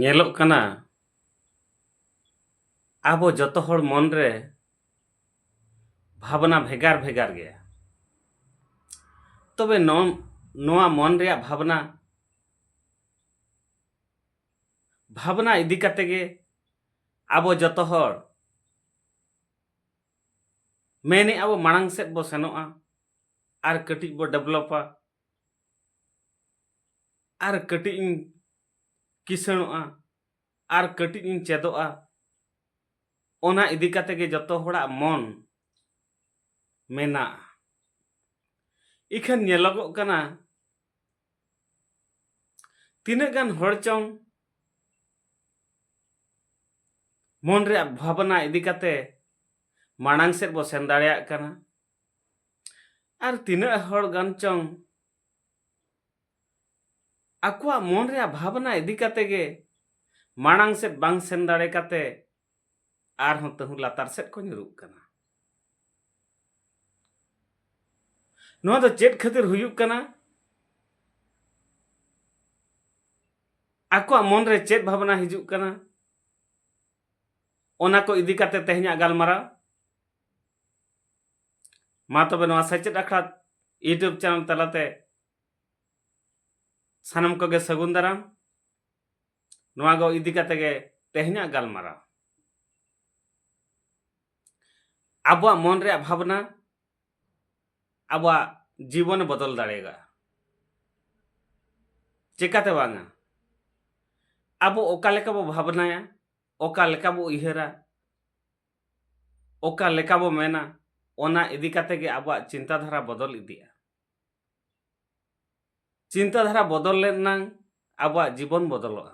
ᱧᱮᱞᱚᱜ ᱠᱟᱱᱟ ᱟᱵᱚ ᱡᱚᱛᱚ ᱦᱚᱲ ᱢᱚᱱ ᱨᱮ ᱵᱷᱟᱵᱽᱱᱟ ᱵᱷᱮᱜᱟᱨ ᱵᱷᱮᱜᱟᱨ ᱜᱮᱭᱟ ᱛᱚᱵᱮ ᱱᱚᱣᱟ ᱢᱚᱱ ᱨᱮᱭᱟᱜ ᱵᱷᱟᱵᱽᱱᱟ ᱵᱷᱟᱵᱽᱱᱟ ᱤᱫᱤ ᱠᱟᱛᱮ ᱜᱮ ᱟᱵᱚ ᱡᱚᱛᱚ ᱦᱚᱲ ᱢᱮᱱᱮ ᱟᱵᱚ ᱢᱟᱲᱟᱝ ᱥᱮᱫ ᱵᱚ ᱥᱮᱱᱚᱜᱼᱟ ᱟᱨ ᱠᱟᱹᱴᱤᱡ ᱵᱚ ᱰᱮᱵᱷᱞᱚᱯᱟ ᱟᱨ ᱠᱟᱹᱴᱤᱡ ᱤᱧ ᱠᱤᱥᱟᱹᱬᱚᱜᱼᱟ ᱟᱨ ᱠᱟᱹᱴᱤᱡ ᱤᱧ ᱪᱮᱫᱚᱜᱼᱟ ᱚᱱᱟ ᱤᱫᱤ ᱠᱟᱛᱮ ᱜᱮ ᱡᱚᱛᱚ ᱦᱚᱲᱟᱜ ᱢᱚᱱ ᱢᱮᱱᱟᱜᱼᱟ ᱤᱠᱷᱟᱹᱱ ᱧᱮᱞᱚᱜᱚᱜ ᱠᱟᱱᱟ ᱛᱤᱱᱟᱹᱜ ᱜᱟᱱ ᱦᱚᱲ ᱪᱚᱝ ᱢᱚᱱ ᱨᱮᱭᱟᱜ ᱵᱷᱟᱵᱽᱱᱟ ᱤᱫᱤ ᱠᱟᱛᱮ ᱢᱟᱲᱟᱝ ᱥᱮᱫ ᱵᱚ ᱥᱮᱱ ᱫᱟᱲᱮᱭᱟᱜ ᱠᱟᱱᱟ ᱟᱨ ᱛᱤᱱᱟᱹᱜ ᱦᱚᱲ ᱜᱟᱱ ᱪᱚᱝ ᱟᱠᱚᱣᱟᱜ ᱢᱚᱱ ᱨᱮᱭᱟᱜ ᱵᱷᱟᱵᱽᱱᱟ ᱤᱫᱤ ᱠᱟᱛᱮ ᱜᱮ ᱢᱟᱲᱟᱝ ᱥᱮᱫ ᱵᱟᱝ ᱥᱮᱱ ᱫᱟᱲᱮ ᱠᱟᱛᱮ ᱟᱨᱦᱚᱸ ᱛᱟᱹᱦᱩ ᱞᱟᱛᱟᱨ ᱥᱮᱫ ᱠᱚ ᱧᱩᱨᱩᱜ ᱠᱟᱱᱟ ᱱᱚᱣᱟ ᱫᱚ ᱪᱮᱫ ᱠᱷᱟᱹᱛᱤᱨ ᱦᱩᱭᱩᱜ ᱠᱟᱱᱟ ᱟᱠᱚᱣᱟᱜ ᱢᱚᱱᱨᱮ ᱪᱮᱫ ᱵᱷᱟᱵᱽᱱᱟ ᱦᱤᱡᱩᱜ ᱠᱟᱱᱟ ᱚᱱᱟ ᱠᱚ ᱤᱫᱤ ᱠᱟᱛᱮ ᱛᱮᱦᱮᱧᱟᱜ ᱜᱟᱞᱢᱟᱨᱟᱣ ᱢᱟ ᱛᱚᱵᱮ ᱱᱚᱣᱟ ᱥᱮᱪᱮᱫ ᱟᱠᱷᱲᱟ ᱤᱭᱩᱴᱩᱵᱽ ᱪᱮᱱᱮᱞ ᱛᱟᱞᱟᱛᱮ ᱥᱟᱱᱟᱢ ᱠᱚᱜᱮ ᱥᱟᱹᱜᱩᱱ ᱫᱟᱨᱟᱢ ᱱᱚᱣᱟ ᱠᱚ ᱤᱫᱤ ᱠᱟᱛᱮ ᱜᱮ ᱛᱮᱦᱮᱧᱟᱜ ᱜᱟᱞᱢᱟᱨᱟᱣ ᱟᱵᱚᱣᱟᱜ ᱢᱚᱱ ᱨᱮᱭᱟᱜ ᱵᱷᱟᱵᱽᱱᱟ ᱟᱵᱚᱣᱟᱜ ᱡᱤᱵᱚᱱᱮ ᱵᱚᱫᱚᱞ ᱫᱟᱲᱮᱭᱟᱜᱼᱟ ᱪᱮᱠᱟᱛᱮ ᱵᱟᱝᱟ ᱟᱵᱚ ᱚᱠᱟ ᱞᱮᱠᱟ ᱵᱚ ᱵᱷᱟᱵᱽᱱᱟᱭᱟ ᱚᱠᱟ ᱞᱮᱠᱟ ᱵᱚ ᱩᱭᱦᱟᱹᱨᱟ ᱚᱠᱟ ᱞᱮᱠᱟ ᱵᱚ ᱢᱮᱱᱟ ᱚᱱᱟ ᱤᱫᱤ ᱠᱟᱛᱮ ᱜᱮ ᱟᱵᱚᱣᱟᱜ ᱪᱤᱱᱛᱟᱹ ᱫᱷᱟᱨᱟ ᱵᱚᱫᱚᱞ ᱤᱫᱤᱜᱼᱟ ᱪᱤᱱᱛᱟᱹ ᱫᱷᱟᱨᱟ ᱵᱚᱫᱚᱞ ᱞᱮᱱ ᱱᱟᱝ ᱟᱵᱚᱣᱟᱜ ᱡᱤᱵᱚᱱ ᱵᱚᱫᱚᱞᱚᱜᱼᱟ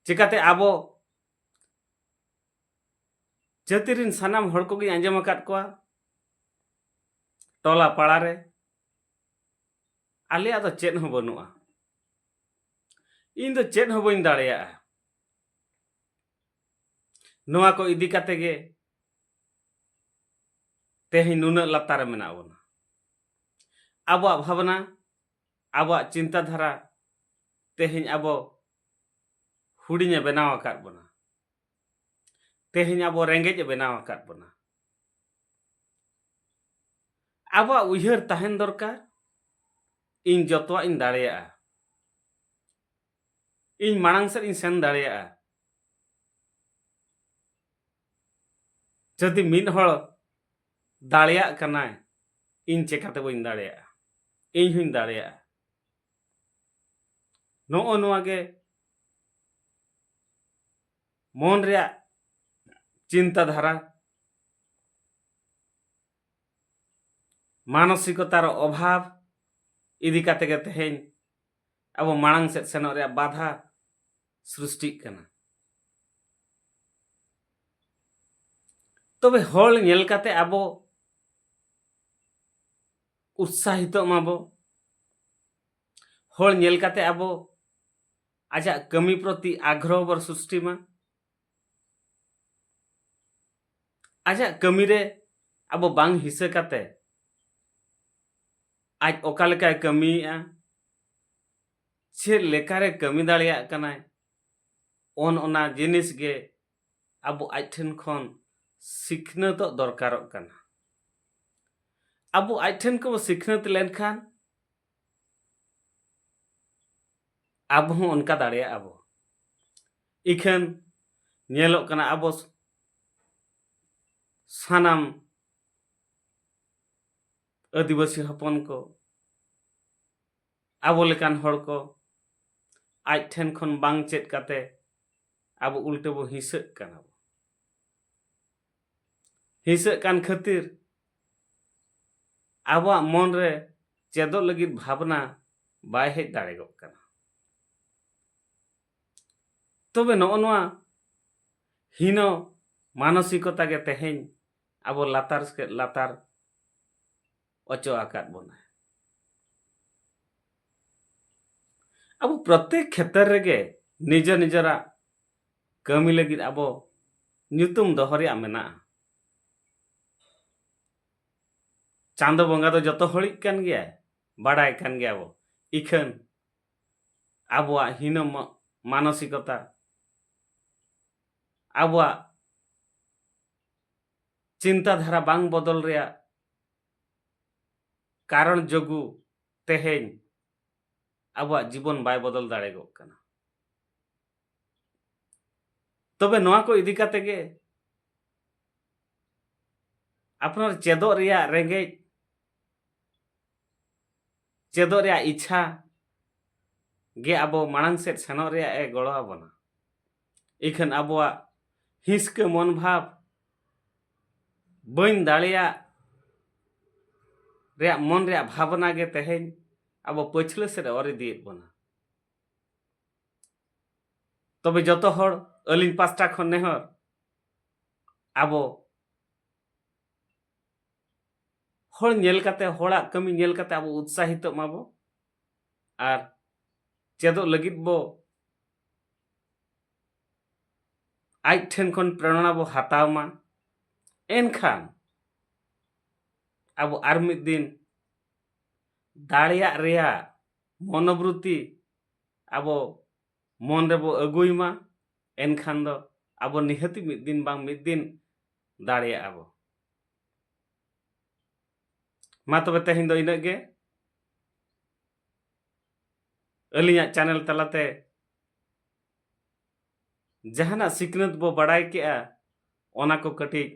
ᱪᱤᱠᱟᱛᱮ ᱟᱵᱚ ᱡᱟᱹᱛᱤ ᱨᱤᱱ ᱥᱟᱱᱟᱢ ᱦᱚᱲ ᱠᱚᱜᱮᱧ ᱟᱸᱡᱚᱢ ᱟᱠᱟᱫ ᱠᱚᱣᱟ ᱴᱚᱞᱟ ᱯᱟᱲᱟ ᱨᱮ ᱟᱞᱮᱭᱟᱜ ᱫᱚ ᱪᱮᱫ ᱦᱚᱸ ᱵᱟᱹᱱᱩᱜᱼᱟ ᱤᱧ ᱫᱚ ᱪᱮᱫ ᱦᱚᱸ ᱵᱟᱹᱧ ᱫᱟᱲᱮᱭᱟᱜᱼᱟ ᱱᱚᱣᱟ ᱠᱚ ᱤᱫᱤ ᱠᱟᱛᱮ ᱜᱮ ᱛᱮᱦᱮᱧ ᱱᱩᱱᱟᱹᱜ ᱞᱟᱛᱟᱨ ᱨᱮ ᱢᱮᱱᱟᱜ ᱵᱚᱱᱟ ᱟᱵᱚᱣᱟᱜ ᱵᱷᱟᱵᱽᱱᱟ ᱟᱵᱚᱣᱟᱜ ᱪᱤᱱᱛᱟᱹ ᱫᱷᱟᱨᱟ ᱛᱮᱦᱮᱧ ᱟᱵᱚ ᱦᱩᱰᱤᱧᱮ ᱵᱮᱱᱟᱣ ᱟᱠᱟᱫ ᱵᱚᱱᱟ ᱛᱮᱦᱮᱧ ᱟᱵᱚ ᱨᱮᱸᱜᱮᱡ ᱮ ᱵᱮᱱᱟᱣ ᱟᱠᱟᱫ ᱵᱚᱱᱟ ᱟᱵᱚᱣᱟᱜ ᱩᱭᱦᱟᱹᱨ ᱛᱟᱦᱮᱱ ᱫᱚᱨᱠᱟᱨ ᱤᱧ ᱡᱚᱛᱚᱣᱟᱜ ᱤᱧ ᱫᱟᱲᱮᱭᱟᱜᱼᱟ ᱤᱧ ᱢᱟᱲᱟᱝ ᱥᱮᱫ ᱤᱧ ᱥᱮᱱ ᱫᱟᱲᱮᱭᱟᱜᱼᱟ ᱡᱩᱫᱤ ᱢᱤᱫ ᱦᱚᱲ ᱫᱟᱲᱮᱭᱟᱜ ᱠᱟᱱᱟᱭ ᱤᱧ ᱪᱮᱠᱟᱛᱮ ᱵᱟᱹᱧ ᱫᱟᱲᱮᱭᱟᱜᱼᱟ ᱤᱧ ᱦᱚᱧ ᱫᱟᱲᱮᱭᱟᱜᱼᱟ ᱱᱚᱜᱼᱚ ᱱᱚᱣᱟ ᱜᱮ ᱢᱚᱱ ᱨᱮᱭᱟᱜ ᱪᱤᱱᱛᱟ ᱫᱷᱟᱨᱟ ᱢᱟᱱᱚᱥᱤᱠᱚᱛᱟᱨ ᱚᱵᱷᱟᱵᱽ ᱤᱫᱤ ᱠᱟᱛᱮ ᱜᱮ ᱛᱮᱦᱮᱧ ᱟᱵᱚ ᱢᱟᱲᱟᱝ ᱥᱮᱫ ᱥᱮᱱᱚᱜ ᱨᱮᱭᱟᱜ ᱵᱟᱫᱷᱟ ᱥᱨᱤᱥᱴᱤᱜ ᱠᱟᱱᱟ ᱛᱚᱵᱮ ᱦᱚᱲ ᱧᱮᱞ ᱠᱟᱛᱮ ᱟᱵᱚ ᱩᱛᱥᱟᱦᱤᱛᱚᱜ ᱢᱟᱵᱚ ᱦᱚᱲ ᱧᱮᱞ ᱠᱟᱛᱮ ᱟᱵᱚ ᱟᱡᱟᱜ ᱠᱟᱹᱢᱤ ᱯᱨᱚᱛᱤ ᱟᱜᱽᱨᱚᱦᱚ ᱵᱚ ᱥᱨᱤᱥᱴᱤ ᱢᱟ ᱟᱡᱟᱜ ᱠᱟᱹᱢᱤ ᱨᱮ ᱟᱵᱚ ᱵᱟᱝ ᱦᱤᱥᱟᱹ ᱠᱟᱛᱮ ᱟᱡ ᱚᱠᱟ ᱞᱮᱠᱟᱭ ᱠᱟᱹᱢᱤᱭᱮᱜᱼᱟ ᱪᱮᱫ ᱞᱮᱠᱟᱨᱮ ᱠᱟᱹᱢᱤ ᱫᱟᱲᱮᱭᱟᱜ ᱠᱟᱱᱟᱭ ᱚᱱ ᱚᱱᱟ ᱡᱤᱱᱤᱥ ᱜᱮ ᱟᱵᱚ ᱟᱡ ᱴᱷᱮᱱ ᱠᱷᱚᱱ ᱥᱤᱠᱷᱱᱟᱹᱛᱚᱜ ᱫᱚᱨᱠᱟᱨᱚᱜ ᱠᱟᱱᱟ ᱟᱵᱚ ᱟᱡ ᱴᱷᱮᱱ ᱠᱚ ᱥᱤᱠᱷᱱᱟᱹᱛ ᱞᱮᱱᱠᱷᱟᱱ ᱟᱵᱚ ᱦᱚᱸ ᱚᱱᱠᱟ ᱫᱟᱲᱮᱭᱟᱜ ᱟᱵᱚ ᱤᱠᱷᱟᱹᱱ ᱧᱮᱞᱚᱜ ᱠᱟᱱᱟ ᱟᱵᱚ ᱥᱟᱱᱟᱢ ᱟᱹᱫᱤᱵᱟᱹᱥᱤ ᱦᱚᱯᱚᱱ ᱠᱚ ᱟᱵᱚ ᱞᱮᱠᱟᱱ ᱦᱚᱲ ᱠᱚ ᱟᱡ ᱴᱷᱮᱱ ᱠᱷᱚᱱ ᱵᱟᱝ ᱪᱮᱫ ᱠᱟᱛᱮ ᱟᱵᱚ ᱩᱞᱴᱟᱹ ᱵᱚ ᱦᱤᱸᱥᱟᱹᱜ ᱠᱟᱱᱟ ᱦᱤᱥᱟᱹᱜ ᱠᱟᱱ ᱠᱷᱟᱹᱛᱤᱨ ᱟᱵᱚᱣᱟᱜ ᱢᱚᱱ ᱨᱮ ᱪᱮᱫᱚᱜ ᱞᱟᱹᱜᱤᱫ ᱵᱷᱟᱵᱽᱱᱟ ᱵᱟᱭ ᱦᱮᱡ ᱫᱟᱲᱮ ᱜᱚᱜ ᱠᱟᱱᱟ ᱛᱚᱵᱮ ᱱᱚᱜᱼᱚ ᱱᱚᱣᱟ ᱦᱤᱱᱚ ᱢᱟᱱᱚᱥᱤᱠᱚᱛᱟ ᱜᱮ ᱛᱮᱦᱮᱧ ᱟᱵᱚ ᱞᱟᱛᱟᱨ ᱥᱮᱫ ᱞᱟᱛᱟᱨ ᱚᱪᱚ ᱟᱠᱟᱫ ᱵᱚᱱᱟ ᱟᱵᱚ ᱯᱨᱚᱛᱮᱠ ᱠᱷᱮᱛᱨᱮ ᱨᱮᱜᱮ ᱱᱤᱡᱮ ᱱᱤᱡᱮᱨᱟᱜ ᱠᱟᱹᱢᱤ ᱞᱟᱹᱜᱤᱫ ᱟᱵᱚ ᱧᱩᱛᱩᱢ ᱫᱚᱦᱚ ᱨᱮᱭᱟᱜ ᱢᱮᱱᱟᱜᱼᱟ ᱪᱟᱸᱫᱚ ᱵᱚᱸᱜᱟ ᱫᱚ ᱡᱚᱛᱚ ᱦᱚᱲᱤᱡ ᱠᱟᱱ ᱜᱮᱭᱟᱭ ᱵᱟᱰᱟᱭ ᱠᱟᱱ ᱜᱮᱭᱟ ᱵᱚ ᱤᱠᱷᱟᱹᱱ ᱟᱵᱚᱣᱟᱜ ᱦᱤᱱᱟᱹ ᱢᱟᱱᱚᱥᱤᱠᱚᱛᱟ ᱟᱵᱚᱣᱟᱜ ᱪᱤᱱᱛᱟᱹ ᱫᱷᱟᱨᱟ ᱵᱟᱝ ᱵᱚᱫᱚᱞ ᱨᱮᱭᱟᱜ ᱠᱟᱨᱚᱱ ᱡᱚᱜᱩ ᱛᱮᱦᱮᱧ ᱟᱵᱚᱣᱟᱜ ᱡᱤᱵᱚᱱ ᱵᱟᱭ ᱵᱚᱫᱚᱞ ᱫᱟᱲᱮᱜᱚᱜ ᱠᱟᱱᱟ ᱛᱚᱵᱮ ᱱᱚᱣᱟ ᱠᱚ ᱤᱫᱤ ᱠᱟᱛᱮ ᱜᱮ ᱟᱯᱱᱟᱨ ᱪᱮᱫᱚᱜ ᱨᱮᱭᱟᱜ ᱨᱮᱸᱜᱮᱡ ᱪᱮᱫᱚᱜ ᱨᱮᱭᱟᱜ ᱤᱪᱪᱷᱟ ᱜᱮ ᱟᱵᱚ ᱢᱟᱲᱟᱝ ᱥᱮᱫ ᱥᱮᱱᱚᱜ ᱨᱮᱭᱟᱜ ᱮ ᱜᱚᱲᱚ ᱟᱵᱚᱱᱟ ᱤᱠᱷᱟᱹᱱ ᱟᱵᱚᱣᱟᱜ ᱦᱤᱥᱠᱟᱹ ᱢᱚᱱ ᱵᱷᱟᱵᱽ ᱵᱟᱹᱧ ᱫᱟᱲᱮᱭᱟᱜ ᱨᱮᱭᱟᱜ ᱢᱚᱱ ᱨᱮᱭᱟᱜ ᱵᱷᱟᱵᱽᱱᱟ ᱜᱮ ᱛᱮᱦᱮᱧ ᱟᱵᱚ ᱯᱟᱹᱪᱷᱞᱟᱹ ᱥᱮᱫ ᱚᱨ ᱤᱫᱤᱭᱮᱫ ᱵᱚᱱᱟ ᱛᱚᱵᱮ ᱡᱚᱛᱚ ᱦᱚᱲ ᱟᱹᱞᱤᱧ ᱯᱟᱥᱴᱟ ᱠᱷᱚᱱ ᱱᱮᱦᱚᱨ ᱟᱵᱚ ᱦᱚᱲ ᱧᱮᱞ ᱠᱟᱛᱮ ᱦᱚᱲᱟᱜ ᱠᱟᱹᱢᱤ ᱧᱮᱞ ᱠᱟᱛᱮ ᱟᱵᱚ ᱩᱛᱥᱟᱦᱤᱛᱚᱜ ᱢᱟᱵᱚ ᱟᱨ ᱪᱮᱫᱚᱜ ᱞᱟᱹᱜᱤᱫ ᱵᱚ ᱟᱡ ᱴᱷᱮᱱ ᱠᱷᱚᱱ ᱯᱨᱮᱨᱚᱱᱟ ᱵᱚ ᱦᱟᱛᱟᱣ ᱢᱟ ᱮᱱᱠᱷᱟᱱ ᱟᱵᱚ ᱟᱨ ᱢᱤᱫ ᱫᱤᱱ ᱫᱟᱲᱮᱭᱟᱜ ᱨᱮᱭᱟᱜ ᱢᱚᱱᱳᱵᱨᱩᱛᱤ ᱟᱵᱚ ᱢᱚᱱ ᱨᱮᱵᱚ ᱟᱹᱜᱩᱭ ᱢᱟ ᱮᱱᱠᱷᱟᱱ ᱫᱚ ᱟᱵᱚ ᱱᱤᱦᱟᱹᱛ ᱢᱤᱫ ᱫᱤᱱ ᱵᱟᱝ ᱢᱤᱫ ᱫᱤᱱ ᱫᱟᱲᱮᱭᱟᱜᱼᱟ ᱵᱚ ᱢᱟ ᱛᱚᱵᱮ ᱛᱮᱦᱮᱧ ᱫᱚ ᱤᱱᱟᱹᱜ ᱜᱮ ᱟᱹᱞᱤᱧᱟᱜ ᱪᱮᱱᱮᱞ ᱛᱟᱞᱟᱛᱮ ᱡᱟᱦᱟᱱᱟᱜ ᱥᱤᱠᱷᱱᱟᱹᱛ ᱵᱚ ᱵᱟᱲᱟᱭ ᱠᱮᱜᱼᱟ ᱚᱱᱟ ᱠᱚ ᱠᱟᱹᱴᱤᱡ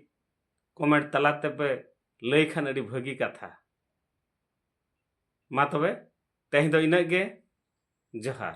ᱠᱚᱢᱮᱱᱴ ᱛᱟᱞᱟ ᱛᱮᱯᱮ ᱞᱟᱹᱭ ᱠᱷᱟᱱ ᱟᱹᱰᱤ ᱵᱷᱟᱹᱜᱤ ᱠᱟᱛᱷᱟ ᱢᱟ ᱛᱚᱵᱮ ᱛᱮᱦᱮᱧ ᱫᱚ ᱤᱱᱟᱹᱜ ᱜᱮ ᱡᱚᱦᱟᱨ